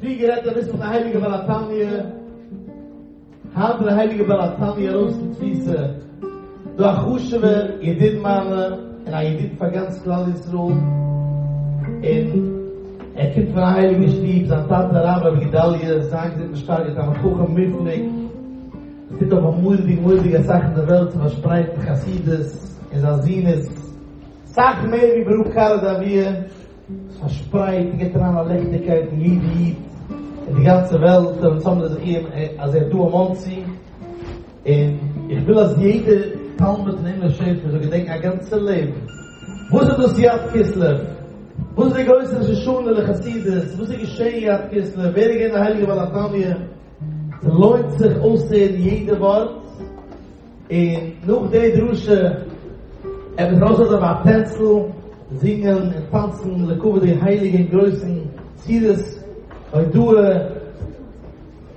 ווי גערעדט דער וויסט פון די הייליגע בעל התניא, היינט דער הייליגער בעל התניא ארויס פון תפיסה, דו א חשובער ידיד מיינע און א ידיד פאר גאנץ כלל ישראל, און ער קומט פון א הייליגע שטוב, זיין טאטע הרב רבי גדליה זיין געזונט איז שטארק, א תלמיד חכם מופלג, ער טוט אבער מורא'דיג מורא'דיג אסאך אין די וועלט צו פארשפרייטן חסידות, און זיין זון איז אסאך מער ווי ברוך קארא דאביע. פארשפרייט, געט אריין א ליכטיגקייט אין יעדע איד, אין די גאנצע וועלט וועלן צאמנעמען זיך אי ה אז ער איז דא אין מאנסי, און איך וויל אז יעדע תלמיד פון אומות שפע זאל געדענקען א גאנצע לעבן וואס איז דאס י' כסלו, וואס איז די גרויסע ראש השנה לחסידות, וואס איז געשען י' כסלו, ווער איז געווען די הייליגע בעל התניא, ס'לוינט זיך אויסצוהערן יעדע ווארט. און נאך די דרשה עפעס ארויסלאזן אויף א טענצל, זינגען און טאנצן לכבוד די הייליגע און גרויסן סירות הודאה,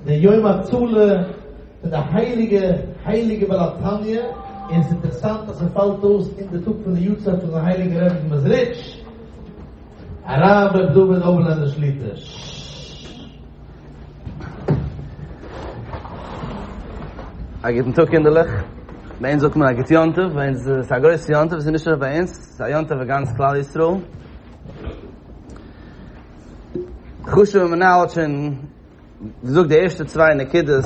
די יום הצלה פון די הייליגע הייליגע בעל התניא, און עס איז אינטערעסאנט אז עס פאלט אויס אין די טאג פון די יארצייט פון די הייליגע רבי פון מעזריטש הרב ר' דוד אבלענדער שליטא. א גוטן טאג קינדערלעך, ביי אונז זאגט מען א גוט יום טוב, ביי אונז איז עס א גרויסע יום טוב, עס איז נישט נאר ביי אונז, עס איז א יום טוב פאר גאנץ כלל ישראל. חשוב'ע מנהל האט שוין געזאגט די ערשטע צוויי נקודות,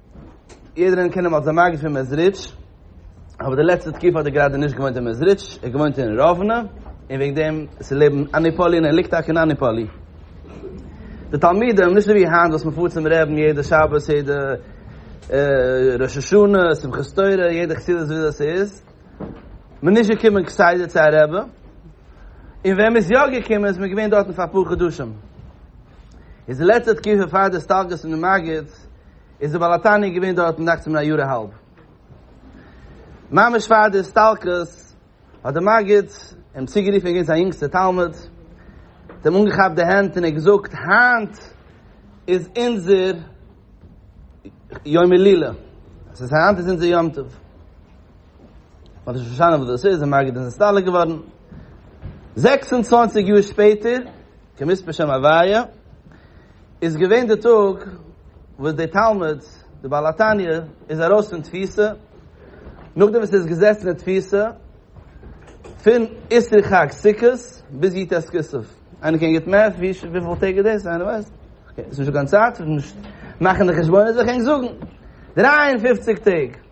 יעדער איינער קען אים אלס דער מגיד פון מעזריטש, אבער די לעצטע תקופה האט ער גראדע נישט געוואוינט אין מעזריטש, ער האט געוואוינט אין ראוונע, און וועגן דעם איז ער לעבן אניפאלי און ער ליגט טאקע אין אניפאלי. די תלמידים, נישט אזוי ווי היינט וואס מען פארט צום רעבין יעדע שבת, יעדע ראש השנה, שמחת תורה, יעדע חסידות ווי אזוי עס איז, מען איז נישט געקומען כסדר צו א רבי, און ווען מען איז יא געקומען איז מען געווען דארטן פאר אפאר חדשים. איז די לעצטע תקופה פאר די הסתלקות פון די מגיד, איז דער בעל התניא געווען דארטן דאכצעך מיר א יאר א האלב. ממש פאר די הסתלקות האט דער מגיד אים צוגערופן געווען זיין יונגסטער תלמיד, האט אים אנגעכאפט די הענט און ער האט געזאגט, היינט איז אונזער יום הילולא, דאס הייסט היינט איז אונזער יום טוב. מען האט נישט פארשטאנען וואס דאס איז, דער מגיד איז נסתלק געווארן. זעקס און צוואנציג יאר שפעטער כמספר שם הוויה, איז געווען די טאג וואס די תלמיד, די בעל התניא, איז ארויס פון תפיסה, נאכדעם וואס ער איז געזעצן אין תפיסה, פון עשרי חג סוכות ביז יט ס כסלו. איינער קען גוט מעט? וויפיל טעג איז דאס? איינער ווייסט? אקעי, ס'איז נישטא קיין צייט, מאכן די חשבונות וועל איך ענק זאגן. דרײַ און פֿופֿציק טעג.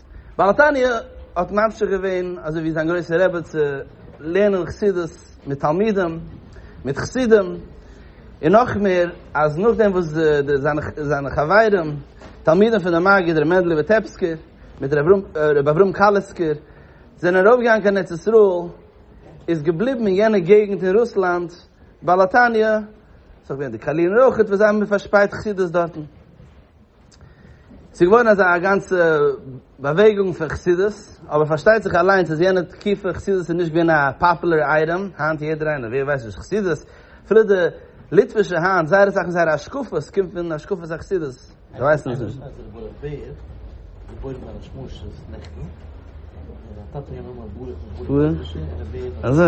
בעל התניא האט ממשיך געווען אזוי ווי זיין גרויסע רבי צו לערנען חסידות מיט תלמידים, מיט חסידים, און נאך מער אז נאכדעם וואס זיינע חברים תלמידים פון די מגיד ר' מענדל וויטעפסקער מיט ר' אברהם קאליסקער זענען ארויפגעגאנגען קיין ארץ ישראל, איז געבליבן אין יענע געגנט אין רוסלאנד בעל התניא, ס'איז דאך געווען די קאליר און רויחעט וואס זיי האבן פארשפרייט חסידות דארטן. ס'איז געווארן אזא א גאנצע באוועגונג פון חסידות, אבער פארשטייט זיך אליינס אז יענע תקופה חסידות איז נישט געווען א פאפולער אייטעם, היינט יעדער איינער ווער ווייסט נישט חסידות, אפילו די ליטווישע היינט זייער אסאך פון זייערע השקפות קומט פון השקפות החסידות, זיי ווייסן עס נישט. אזוי?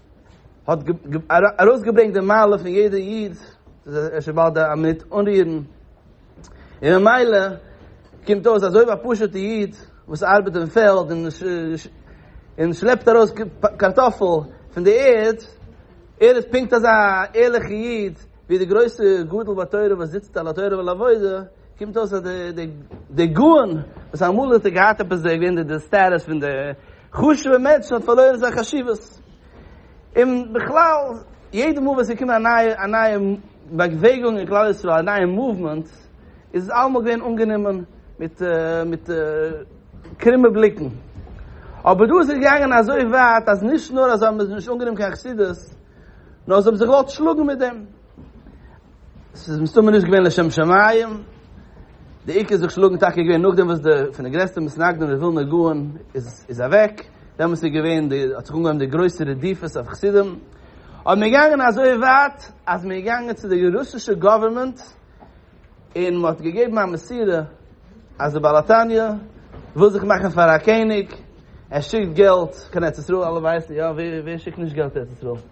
האט ארויסגעברענגט די מעלה פון יעדע איד זיי נישט באלד א מינוט אנרירן און ממילא קומט אויס אז אויב א פשוטע איד וואס ארבעט אין פעלד און און שלעפט ארויס קארטאפל פון די ערד ער איז פונקט אזא ערליכע איד ווי די גרויסע גדול בתורה וואס זיצט על התורה ועל העבודה קומט אויס אז די גאון וואס אמאל האט ער געהאט עפעס די סטעטוס פון די חשוב'ע מענטשן האט פארלוירן זיין חשיבות. און בכלל, יעדע מאל ווען ס'איז געקומען א נייע באוועגונג אין כלל ישראל, א נייע מאוומענט, איז עס אלעמאל געווען אנגענומען מיט קרומע בליקן. אבער דא איז עס געגאנגען אזוי ווייט אז נישט נאר אז זיי האבן עס נישט אנגענומען קיין חסידות, נאר זיי האבן זיך געוואלט שלאגן מיט דעם. ס'איז מסתמא נישט געווען לשם שמים, די עיקר זיך שלאגן טאקע געווען נאכדעם וואס די פון די גרעסטע מתנגדים די ווילנא גאון איז איז אוועק, דעמאלטס איז געווען די האט זיך אנגעהויבן די גרויסע רדיפות אויף חסידים, און מ'איז געגאנגען אזוי ווייט אז מ'איז געגאנגען צו די רוסישע גאווערמענט און מ'האט געגעבן א מסירה אז די בעל התניא וויל זיך מאכן פאר א קעניג, ער שיקט געלט קיין ארץ ישראל, אלע ווייסן יא ווער שיקט נישט געלט ארץ ישראל?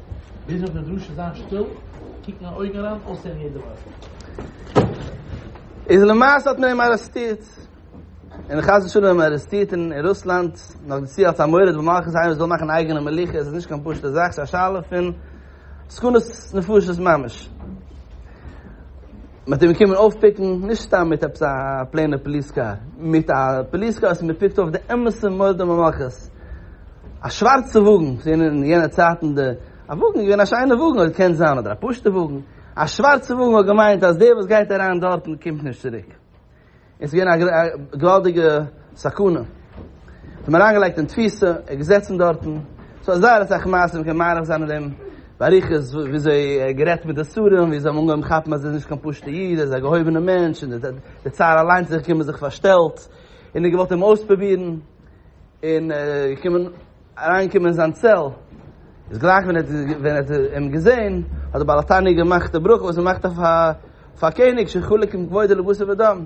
ביז אויף די דרשה זיין שטיל, קוקן אין אויגן אריין, אויסהערן יעדע ווארט. איז למעשה האט מען אים ארעסטירט, און חס ושלום אים ארעסטירט אין רוסלאנד, נאך דערצו אלס א מורד במלכות, איינער וואס וויל מאכן אייגענע מלוכה, עס איז נישט קיין פשוטע זאך, עס איז א שאלה פון סכנות נפשות ממש. מען האט אים געקומען אויפפיקן, נישט סתם מיט עפעס א פלעינע פאליס קאר, מיט א פאליס קאר וואס מען פיקט אויף די אמת'ע מורד במלכות, א שווארצע וואגן, ס'זענען אין יענע צייטן די, א וואגן איז געווען א שיינע וואגן, אדער קען זיין אדער א פשוטע וואגן, א שווארצע וואגן האט געמיינט אז דער וואס גייט אריין דארטן קומט נישט צוריק. און ס'געווען א געוואלדיגע סכנה. זיי האבן אריינגעלייגט אין תפיסה, ער האט געזעצן דארטן, ס'דא זייער אסאך מעשים, מ'קען מאריך זיין אין דעם באריכות, וויאזוי ער האט גערעדט מיט די שרים, ווי זיי האבן אנגעהויבן כאפן אז ער איז נישט קיין פשוט'ע איד, ער איז א געהויבענע מענטש, און דער צאר אליינס איז זיך געקומען זיך פארשטעלט, און ער האט געוואלט אים אויספרובירן. און געקומען אריינקומען אין זיין צעל, איז גלייך ווען ער האט אים געזען, האט דער בעל התניא געמאכט די ברכה וואס מען מאכט אויף א קעניג שחולק עם כבודו לבשר ודם,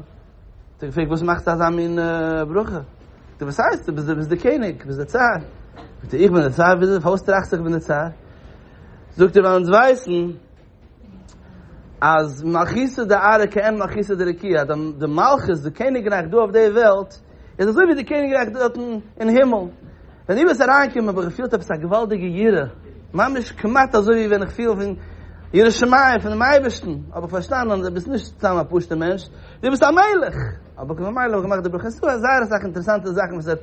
האט ער געפרעגט וואס מאכסטו אזא מין ברכה, זאגט ער וואס הייסט, דו ביסט דער קעניג, דו ביסט דער צאר, זאגט ער איך בין דער צאר, פארוואס טראכסטו איך בין דער צאר, זאגט ער ווייל אונז ווייסן אז מלכותא דארעא כעין מלכותא דרקיעא, די מלכות, די קעניגרייך דא אויף די וועלט, איז אזוי ווי די קעניגרייך דארטן אין הימל. ווען דו ביסט אריינגעקומען האב איך געפילט עפעס א געוואלדיגע יראה, ממש כמעט אזוי ווי ווען איך פיל פון יראת שמים פונעם אייבערשטן, האב איך פארשטאנען דו ביסט נישט סתם א פשוט'ער מענטש, דו ביסט א מלך! האב איך ממילא האב איך געמאכט די ברכה. ס'איז דא זייער אסאך אינטערעסאנטע זאכן וואס ער האט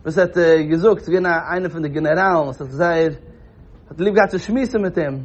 וואס ער האט געזאגט, ס'איז געווען איינער פון די גענעראלן וואס האט זייער האט ליב געהאט צו שמועסן מיט אים,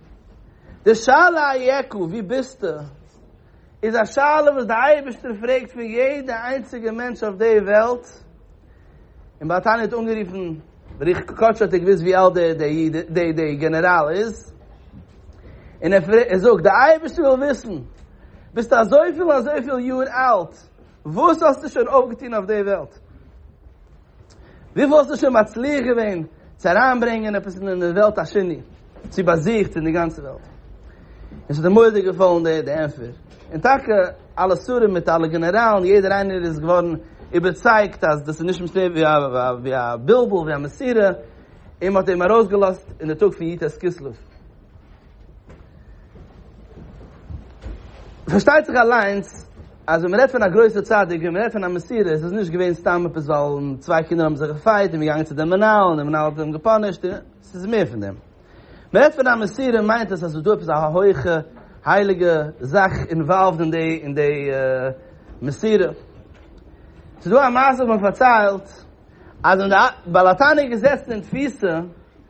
די שאלה איה ק ווי ביסטו? איז א שאלה וואס דער אייבערשטער פרעגט פון יעדע איינציגע מענטש אויף די וועלט, און בעל התניא האט אנגערופן, ברוך קודשו האט ער געוואוסט ווי אלט די גענעראל איז, און ער זאגט, דער אייבערשטער וויל וויסן, ביסטו אזויפיל און אזויפיל יאר אלט, וואס האסטו שוין אויפגעטון אויף די וועלט? וויפיל האסטו שוין מצליח געווען צו אריינברענגען עפעס אין די וועלט השני, צו באזוכט אין די גאנצע וועלט? און ס'האט אים מורא'דיג געפאלן די די ענטפער, און טאקע אלע שרים מיט אלע גענעראלן, יעדער איינער איז געווארן איבערצייגט אז דאס איז נישט מסתם ווי א ווי א בלבול, ווי א מסירה, און מ'האט אים ארויסגעלאזט אין די טאג פון יט ס כסלו. פארשטייט זיך אליינס אז ווען מ'רעדט פון א גרויסע צדיק, ווען מ'רעדט פון א מסירה, איז עס נישט געווען סתם עפעס ווייל צוויי קינדער האבן זיך געפייט און מ'געגאנגען צו דעם מנהל און דער מנהל האט אים געפאנישט, עס איז מער פון דעם. מ'רעדט פון א מסירה מיינט עס אז עס איז דא עפעס א הויכע הייליגע זאך אינוואלווד אין די אין די מסירה. עס איז דא א מעשה וואס מ'פארציילט אז ווען דער בעל התניא איז געזעצן אין תפיסה,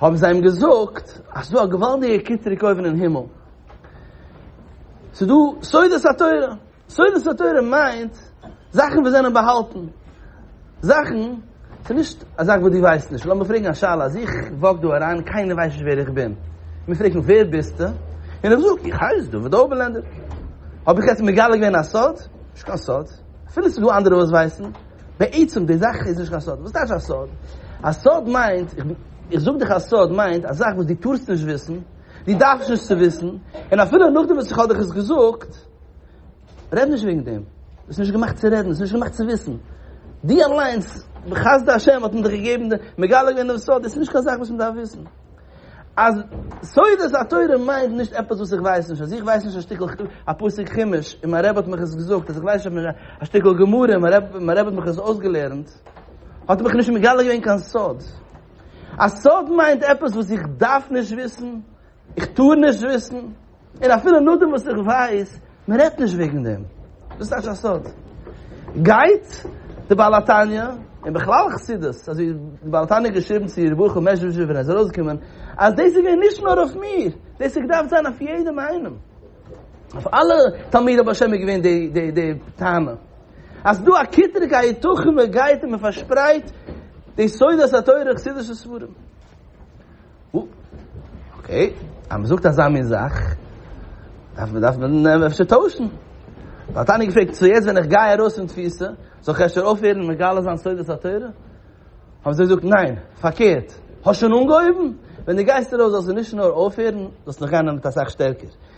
האבן זיי אים געזאגט אז ס'איז דא א געוואלדיגע קיטרוג אויבן אין הימל, ס'איז דא סודות התורה, סודות התורה מיינט זאכן וואס זענען באהאלטן, זאכן, ס'איז נישט א זאך וואס דו ווייסט נישט, לאמיר פרעגן א שאלה, אז איך וואק דא אריין און קיינער ווייסט נישט ווער איך בין, מען פרעגט מיך ווער ביסטו? און איך זאג, איך הייס דוד אויבערלענדער, האב איך יעצט מגלה געווען א סוד? נישט קיין סוד, אפילו ס'איז דא אנדערע וואס ווייסן. בעצם די זאך איז נישט קיין סוד, וואס טייטש א סוד? א סוד מיינט, איך זאג דיך א סוד מיינט א זאך וואס דו טארסט נישט וויסן, דו דארפסט נישט צו וויסן, און אפילו נאכדעם וואס איך האב דיך עס געזאגט, רעד נישט וועגן דעם, ביסט נישט געמאכט צו רעדן, ביסט נישט געמאכט צו וויסן, דו אליינס, בחסדי השם האט מען דיך געגעבן, מגלה געווען דעם סוד, דאס איז נישט קיין זאך וואס מען דארף וויסן. אז סודות התורה מיינט נישט עפעס וואס איך ווייס נישט, אז איך ווייס נישט א שטיקל א פסוק חומש און מיין רבי האט מיך עס געזאגט, אז איך ווייס נישט א שטיקל גמרא און מיין רבי האט מיך עס אויסגעלערנט, האט ער מיך נישט מגלה געווען קיין סוד. א סוד מיינט עפעס וואס איך דארף נישט וויסן, איך טאר נישט וויסן. און אפילו נאכדעם וואס איך ווייס, מען רעדט נישט וועגן דעם. דאס טייטש א סוד. גייט די בעל התניא, און בכלל חסידות, אזוי ווי די בעל התניא האט געשריבן צו ר' ברוך מזשבוז'ער ווען ער איז ארויסגעקומען, אז דאס איז געווען נישט נאר אויף מיר, דאס האט געדארפט זיין אויף יעדעם איינעם. אויף אלע תלמידי בעל שם איז געווען די טענה. אז דא א כיטרע קיין היתכן מען גייט און מען פארשפרייט די סודות התורה, חסידישע ספרים. אקעי, אז מען זאגט אזא מין זאך, דארף מען דארף מען אפשר טוישן. האט איינער געפרעגט, סאו יעצט ווען איך גיי ארויס פון תפיסה, זאל איך אפשר אויפהערן מגלה זיין סודות התורה? האבן זיי געזאגט, ניין, פארקערט, האסט שוין אנגעהויבן, ווען דו גייסט ארויס זאלסטו נישט נאר אויפהערן, זאלסט נאך גיין דערמיט אסאך שטערקער.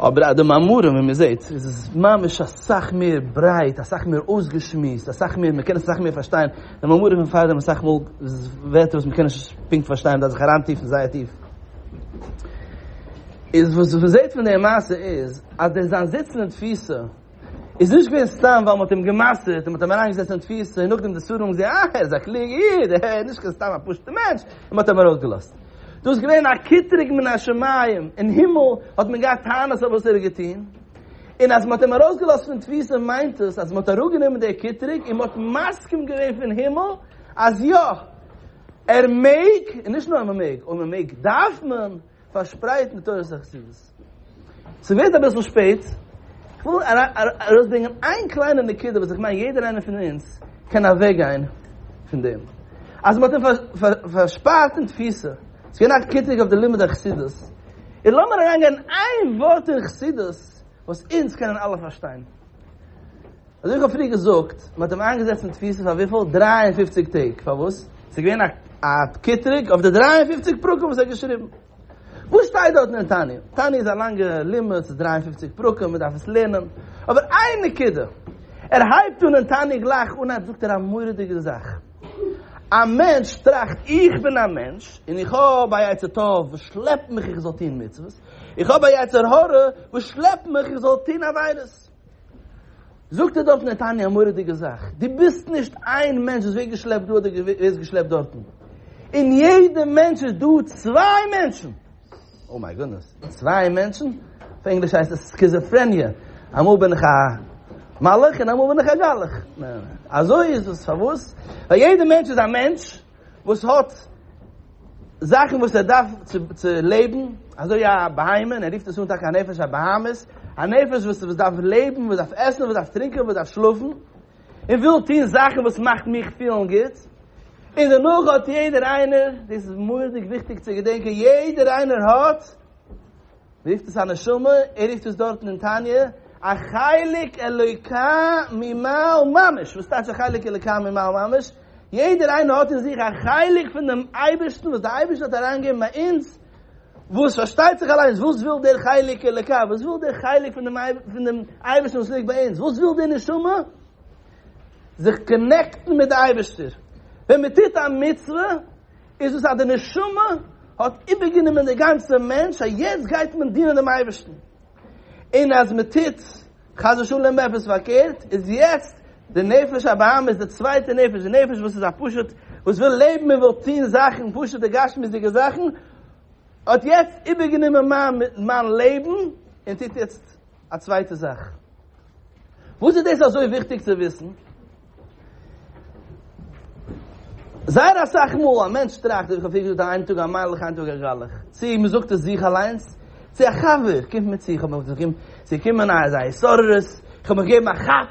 אבער אז די מאמרים ווי מען זעט איז עס ממש אסאך מער ברייט אסאך מער אויסגעשמועסט אסאך מער מען קען עס אסאך מער פארשטיין די מאמרים פון פאר דעם אסאך מאל ווערטער וואס מען קען נישט פונקט פארשטיין מען דארף זיך אריין טיפן זייער טיף איז וואס מען זעט פון די מעשה איז אז דער זיין זיצן אין תפיסה איז נישט געווען סתם ווייל מען האט אים גע'מסר'ט און מען האט אים אריינגעזעצט אין תפיסה און נאכדעם די שרים האבן געזעהן אה ער איז א קלוגע איד ער איז נישט קיין סתם א פשוטע מענטש און מען האט אים ארויסגעלאזט. דאס איז געווען א קטרוג מן השמים, אין הימל האט מען געהאט טענות אויף וואס ער האט געטון, און אז מען האט אים ארויסגעלאזט פון תפיסה מיינט עס אז מען האט אראפגענומען די קטרוג און מען האט מסכים געווען פון הימל אז יא ער מעג, און נישט נאר מען מעג, אויב מען מעג דארף מען. פארשפרייט מיט תורת החסידות. ס'ווערט אביסל שפעט, כ'וויל ארויסברענגען איין קליינע נקודה וואס איך מיין יעדער איינער פון אונז קען אוועקגיין פון דעם. אז מ'האט אים פארשפארט אין תפיסה, ס'געווען א קריטיק אויף די לימוד החסידות, און לאמיר אריינגיין אין איין ווארט אין חסידות, וואס אונז קענען אלע פארשטיין. אזוי איך האב פריער געזאגט, מען האט אים איינגעזעצט אין תפיסה פאר וויפיל? דרײַ און פֿופֿציק טעג. פארוואס? ס'איז געווען א א קטרוג אויף די דרײַ און פֿופֿציק פרקים וואס ער האט געשריבן. וואס שטייט דארטן אין תניא? תניא איז א לאנגע לימוד, ס'איז דרײַ און פֿופֿציק פרקים, מען דארף עס לערנען. אבער איין נקודה, ער הייבט אן אין תניא גלייך אנהייב זאגט ער א מורא'דיגע זאך. א מענטש טראכט, איך בין א מענטש, און איך האב א יצר טוב וואס שלעפט מיך איך זאל טון מצוות, איך האב א יצר הרע וואס שלעפט מיך איך זאל טון עבירות. זאגט ער דארטן נתניה א מורא'דיגע זאך, דו ביסט נישט איין מענטש וואס ווערט געשלעפט דא אדער ווערסט געשלעפט דארטן, אין יעדע מענטש איז דא צוויי מענטשן, אוי מיי גודנעס, צוויי מענטשן? אויף ענגליש הייסט עס סקיזעפרעניע, אמאל בין איך א מלאך און אמאל בין איך א גלח, אזוי איז עס, פארוואס? ווייל יעדע מענטש איז א מענטש, וואס האט זאכן וואס ער דארף צו לעבן, אזוי א בהמה, און ער רופט עס אן טאקע א נפש, א בהמות, א נפש וואס דארף לעבן, וואס דארף עסן, וואס דארף טרינקען, וואס דארף שלאפן, און וויל טון זאכן וואס מאכט מיך פילן גוט, און דערנאך האט יעדער איינער, דאס איז מורא'דיג וויכטיג צו געדענקען, יעדער איינער האט רופט עס א נשמה, ער רופט עס דארטן אין תניא, א חלק אלוקה ממעל ממש, וואס טייטש א חלק אלוקה ממעל ממש? יעדער איינער האט אין זיך א חלק פון דעם אייבערשטן וואס דער אייבערשטער האט אריינגעגעבן ביי אונז, וואס פארשטייט זיך אליינס וואס וויל דער חלק אלוקה, וואס וויל דער חלק פון דעם אייבערשטן וואס ליגט ביי אונז, וואס וויל די נשמה? זיך קאנעקטן מיט די אייבערשטער, ווען מען טוט א מצוה, איז דאס אז די נשמה האט איבערגענומען די גאנצע מענטש אז יעצט גייט מען דינען דעם אייבערשטן, און אז מען טוט חס ושלום עפעס פארקערט איז יעצט די נפש הבהמה איז די צווייטע נפש, די נפש וואס איז א פשוט וואס וויל לעבן און וויל טון זאכן פשוט'ע גשמיות'דיגע זאכן האט יעצט איבערגענומען מיין לעבן און טוט יעצט א צווייטע זאך. וואס איז דאס אזוי וויכטיג צו וויסן? זייער אסאך מאל א מענטש טראכט, ווי איך האב פריער געזאגט, איין טאג א מיילעך, איין טאג א גראלעך. צי מען זאגט עס זיך אליינס, צי א חבר קומט מיר צו, איך האב מיך דערזען, צו קומען א התעוררות, איך האב מיך געגעבן א כאפ,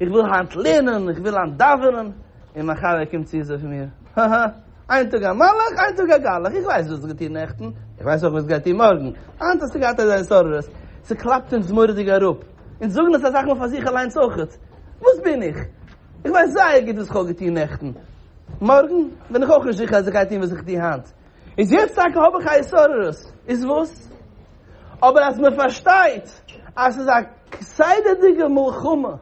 איך וויל היינט לערנען, איך וויל היינט דאווענען, און מיין חבר קומט צו זאגט מיר, האהא, איין טאג א מלאך, איין טאג א גלח, איך ווייס וואס דו האסט געטון נעכטן, איך ווייס אויך וואס דו גייסט טון מארגן, היינט האסטו געהאט אזא התעוררות, ס'קלאפט אונז מורא'דיג אראפ, אונז זאגן דאס אסאך מאל פאר זיך אליינס אויכעט, וואס בין איך? איך ווייס זייער גוט וואס איך האב געטון נעכטן, מארגן בין איך אויך נישט זיכער אז איך גיי טון וואס איך טו היינט, איז יעצט טאקע האב איך א התעוררות, איז וואס? אבער אז מען פארשטייט אז ס'איז א כסדר'דיגע מלחמה,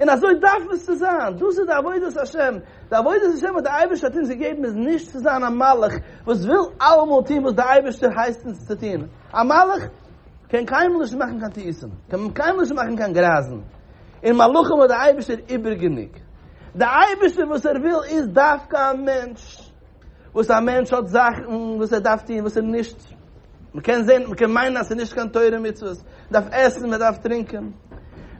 און אזוי דארף עס צו זיין, דאס איז די עבודת השם, די עבודת השם וואס דער אייבערשטער האט אונז געגעבן איז נישט צו זיין א מלאך וואס וויל אלעמאל טון וואס דער אייבערשטער הייסט אונז צו טון, א מלאך קען קיינמאל נישט מאכן קיין טעותים, קען קיינמאל נישט מאכן קיין גרייזן, און מלאכים האט דער אייבערשטער איבער גענוג, דער אייבערשטער וואס ער וויל איז דווקא א מענטש. וואס א מענטש האט זאכן וואס ער דארף טון וואס איז נישט, מען קען זען, מען קען מיינען אז ס'איז נישט קיין תורה ומצוות, מען דארף עסן, מען דארף טרינקען,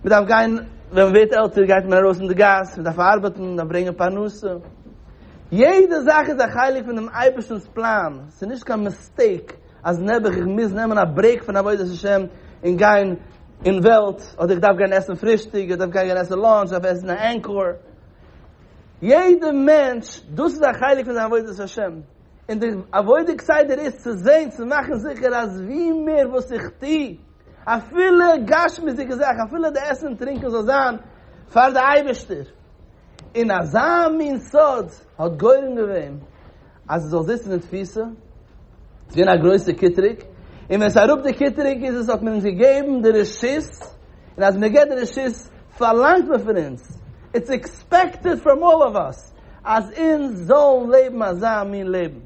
מען דארף גיין, ווען מען ווערט עלטער גייט מען ארויס אין די גאס, מען דארף ארבעטן, מען דארף ברענגען פרנסה, יעדע זאך איז א חלק פון דעם אייבערשטנ'ס פלאן, ס'איז נישט קיין מיסטעיק אז נעבעך איך מוז נעמען א ברעיק פון עבודת השם און גיין אין וועלט, אדער איך דארף גיין עסן פרישטאג, איך דארף גיין עסן לאנטש, איך דארף עסן א ענקאר. יעדע מענטש, דאס איז א חלק פון זיין עבודת השם, און די עבודה כסדר איז צו זען צו מאכן זיכער אז ווי מער וואס איך טו, אפילו גשמיות'דיגע זאכן, אפילו די עסן און טרינקען זאל זיין פאר די אייבערשטער, און אזא מין סוד האט גורם געווען. אז עס זאל זיצן אין תפיסה, עס איז געווען א גרויסע קיטרוג, און ווען עס איז אראפ די קיטרוג איז עס האט מען אונז געגעבן די רשות, און אז מען געט די רשות פארלאנגט מען פון אונז, איטס עקספעקטעד פראם אלל אוו אס, אז אונז זאלן לעבן אזא מין לעבן.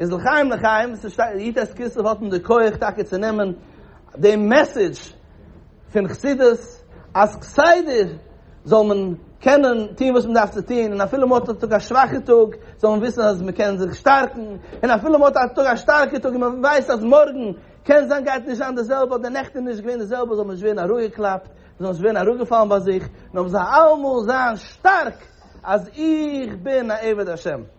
איז לחיים לחיים, ס'שטייט יט ס כסלו האט מען די כח טאקע צו נעמען דעם מעסעדזש, פון חסידות אז כסדר זאל מען קענען טון וואס מען דארף צו טון און אפילו מען האט א שוואכע טאג זאל מען וויסן אז מען קען זיך שטארקן און אפילו מען האט א שטארקע טאג און מען ווייסט אז מארגן קען זיין גייט נישט זיין די זעלבע אדער נעכטן איז נישט געווען די זעלבע זאל מען נישט ווערן אראפגעקלאפט מען זאל נישט ווערן אראפגעפאלן ביי זיך נאר מען זאל אלעמאל זיין שטארק אז איך בין א עבד השם.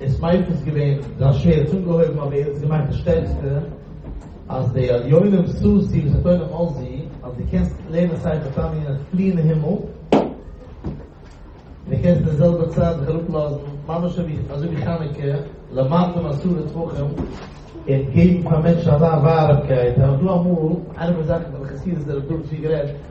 עס מיינט עס געווען זיין שווער האט אנגעהויבן אבער יעצט געמאכט די שטערקסטע אז די עליונים ששי ותורה מלא ז אז די קענסט לערנען ספר תניא און פליען אין הימל און די קענסט אין די זעלבע צייט זיך אראפ לאזן ממש אזוי ווי חנוכה למטה מעשרה טפחים און געבן פאר מענטשן אזא ווארעמקייט האט דא אמאל איינער פון די זאכן פון די חסידות דער רב דוד צבי גערעדט.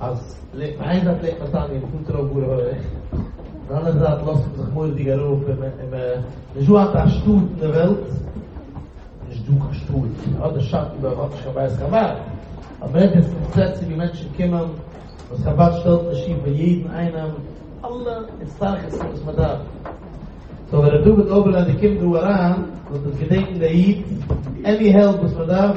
אז איין זייט לעבט מען סתם אין אומטרויבארע הויעך, און די אנדערע זייט לאזט מען זיך מורא'דיג ארויף אין אין מען נישט דא אט א שטאט אין די וועלט, נישט דא קיין שטאט, אט די שאטן דארט האט נישט קיין בית חבד, אבער מען רעדט יעצט פון פלעצער ווי מענטשן קומען, וואס חבד שטעלט נישט צו פאר יעדן איינעם אלע הצטרכות'ן וואס מען דארף, סאו ווען ר' דוד אויבערלענדער קומט דא אריין זאל דאס געדענקן דער איד, עני העלפ וואס מען דארף.